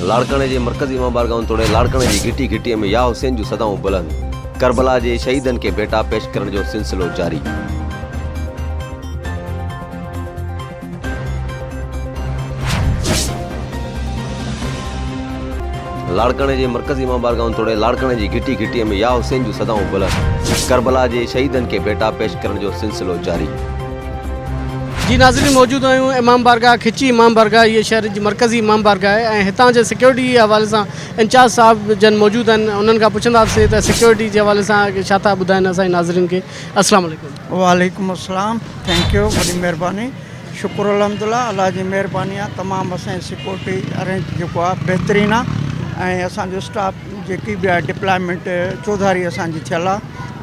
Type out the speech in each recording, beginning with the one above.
لاڙڪاڻي جي مرڪزي امام بارگاهن توڙي لاڙڪاڻي جي گهٽي گهٽي ۾ يا حسين جون صدائون بلند، ڪربلا جي شهيدن کي ڀيٽا پيش ڪرڻ جو سلسلو جاري. لاڙڪاڻي جي مرڪزي امام بارگاهن توڙي لاڙڪاڻي جي گهٽي گهٽي ۾ يا حسين جون صدائون بلند، ڪربلا جي شهيدن کي ڀيٽا پيش ڪرڻ جو سلسلو جاري. جي ناظرين موجود آهيون امام بارگاهه کچي امام بارگاهه هي شهر جي مرڪزي امام بارگاهه آهي ۽ هتان جي سيڪيورٽي جي حوالي سان انچارج صاحب جن موجود آهن انهن کان پڇنداسين ته سيڪيورٽي جي حوالي سان ڇا ٿا ٻڌائين اسان جي ناظرين کي السلام عليڪم. وعليڪم السلام ٿينڪ يو وڏي مهرباني شڪر الحمد الله الله جي مهرباني آهي تمام اسان جي سيڪيورٽي ارينج جيڪو آهي بهترين آهي ۽ اسان جو اسٽاف جيڪي به ڊپلائمينٽ چوڌاري اسان جي ٿيل آ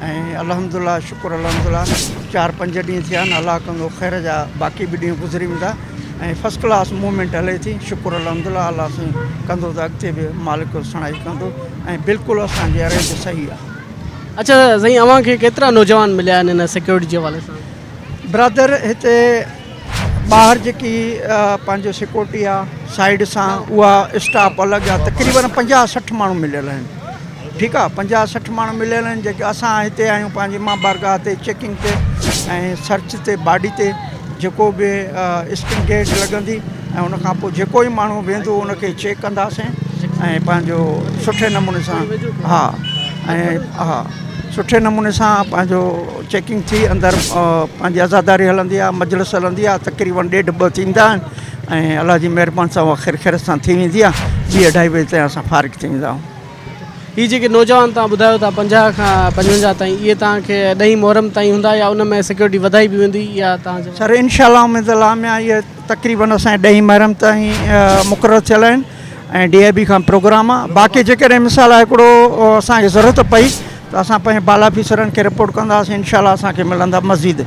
۽ الحمد الله شڪر الحمد الله چار پنج ڏينهن ٿيا آهن الله ڪندو خير جا باقي به ڏينهن گذري ويندا ۽ فسٽ ڪلاس موومينٽ هلي ٿي شڪر الحمد الله الله سائين ڪندو ته اڳتي به مالڪ سڻائي ڪندو ۽ بلڪل اسان جي ارينج صحيح آ اچا سائين اوهان کي ڪيترا نوجوان مليا آهن ان سيڪيورٽي جي حوالي سان برادر هتي ٻاهر جيڪي پنهنجو سيڪورٽي آ سائيڊ سان اها اسٽاف الڳ آ تقريبن پنجاهه سٺ ماڻهو مليل آهن ٺيڪ آ پنجاهه سٺ ماڻهو مليل آهن جيڪي اسان هتي آهيون پنهنجي ماء بارگاهه تي چيڪنگ تي ۽ سرچ تي باڊي تي جيڪو به اسڪن گيج لڳندي ۽ ان کان پوء جيڪو ئي ماڻهو ويندو ان کي چيڪ ڪنداسين ۽ پنهنجو سٺي نموني سان ها ۽ ها سٺي نموني سان پنهنجو چيڪنگ ٿي اندر پنهنجي عزاداري هلندي آهي مجلس هلندي آهي تقريبن ڏيڍ ٻه ٿيندا آهن ۽ الله جي مهرباني سان اها خير خيرت سان ٿي ويندي آهي ٻي اڍائي بجي تائين اسان فارغ ٿي ويندا آهيون هي جيڪي نوجوان تان ٻڌايو ٿا پنجاهه کان پنجونجاهه تائين اهي تان کي ڏهين محرم تائين هوندا يا ان ۾ سيڪيورٽي وڌائي به ويندي يا تان سر انشاء الله اميد الله ميان اهي تقريبن اسان ڏهين محرم تائين مقرر ٿيل آهن ۽ ڊي آء بي کان پروگرام آ باقي جيڪڏهن مثال هڪڙو اسان کي ضرورت پئي ته اسان پنهنجي بالا افيسرن کي رپورٽ ڪنداسين انشاء الله اسان کي ملندا مزيد.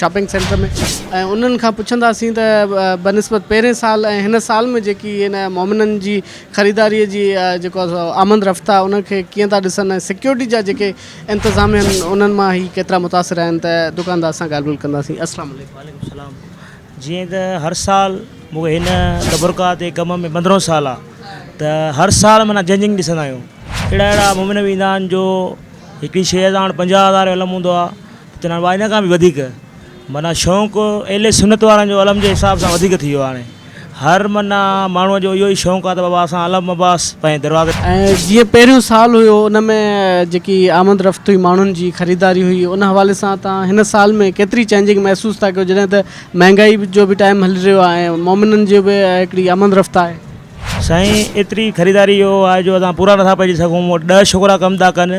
شاپنگ سينٽر ۾ ۽ انهن کان پڇنداسين ته بنسبت پهرين سال ۽ هن سال ۾ جيڪي هن مومنن جي خريداري جي جيڪو آمد رفت آهي انهن کي ڪيئن ٿا ڏسن ۽ سيڪيورٽي جا جيڪي انتظام آهن انهن مان هي ڪيترا متاثر آهن ته دڪاندار سان ڳالهه ٻولهه ڪنداسين السلام عليڪم. وعليڪم السلام جيئن ته هر سال مون کي هن دبرکاهه تي ڪم ۾ پندرهون سال آهي ته هر سال معنيٰ جنجنگ ڏسندا آهيون اهڙا اهڙا مومن به ايندا آهن جو هڪڙي شيء سان پنجاهه هزار جو علم هوندو آهي چوندو آهيان وائنا کان به وڌيڪ معنيٰ شونق اهل سنت وارن جو علم جي حساب سان وڌيڪ ٿي ويو آهي هاڻي هر معنيٰ ماڻهو جو اهو ئي شونق آهي ته بابا اسان علم عباس پنهنجي دروازي ۽ جيئن پهريون سال هيو ان ۾ جيڪي آمد رفت هئي ماڻهن جي خريداري هئي ان حوالي سان تان هن سال ۾ ڪيتري چينجنگ محسوس ٿا ڪيو جڏهن ته مهنگائي جو به ٽائيم هلي رهيو آهي ۽ مومنن جي به هڪڙي آمد رفت آهي. سائين ايتري خريداري جو آهي جو اسان پورا نٿا پئجي سگهون ڏهه شڪرا ڪم ٿا ڪن.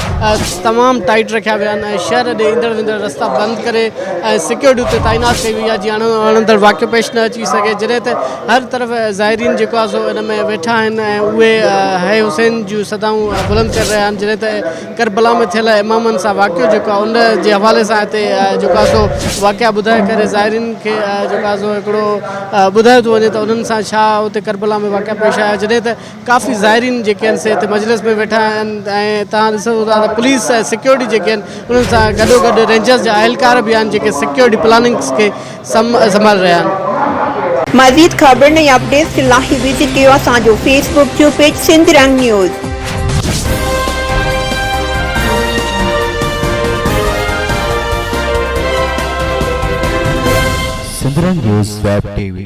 تمام ٽائيٽ رکيا ويا آهن ۽ شهر ڏي ايندڙ ويندڙ رستا بند ڪري ۽ سڪيورٽي اتي تعينات ڪئي وئي آهي جيئن اڻ اڻندڙ واقعو پيش نه اچي سگهي جڏهن ته هر طرف زائرين جيڪو آهي سو ان ۾ ويٺا آهن ۽ اهي هي حسين جون صدائون بلند ڪري رهيا آهن جڏهن ته ڪربلا ۾ ٿيل امامن سان واقعو جيڪو آهي ان جي حوالي سان هتي جيڪو آهي سو واقعا ٻڌائي ڪري زائرين کي جيڪو آهي سو هڪڙو ٻڌايو ٿو وڃي ته انهن سان ڇا اتي ڪربلا ۾ واقعا پيش آيا جڏهن ته ڪافي زائرين جيڪي آهن سي هتي مجلس ۾ ويٺا آهن ۽ تهان ڏسو ٿا ته پوليس ۽ سيڪيورٽي جيڪي آهن انهن سان گڏو گڏ رينجرز جا اهلڪار به آهن جيڪي سيڪيورٽي پلاننگز کي سنڀالي رهيا آهن. مزيد خبرن ۽ اپڊيٽس لاء وزٽ ڪيو اسان جو فيس بڪ جو page Sindh Rang news. Sindhrang news web T V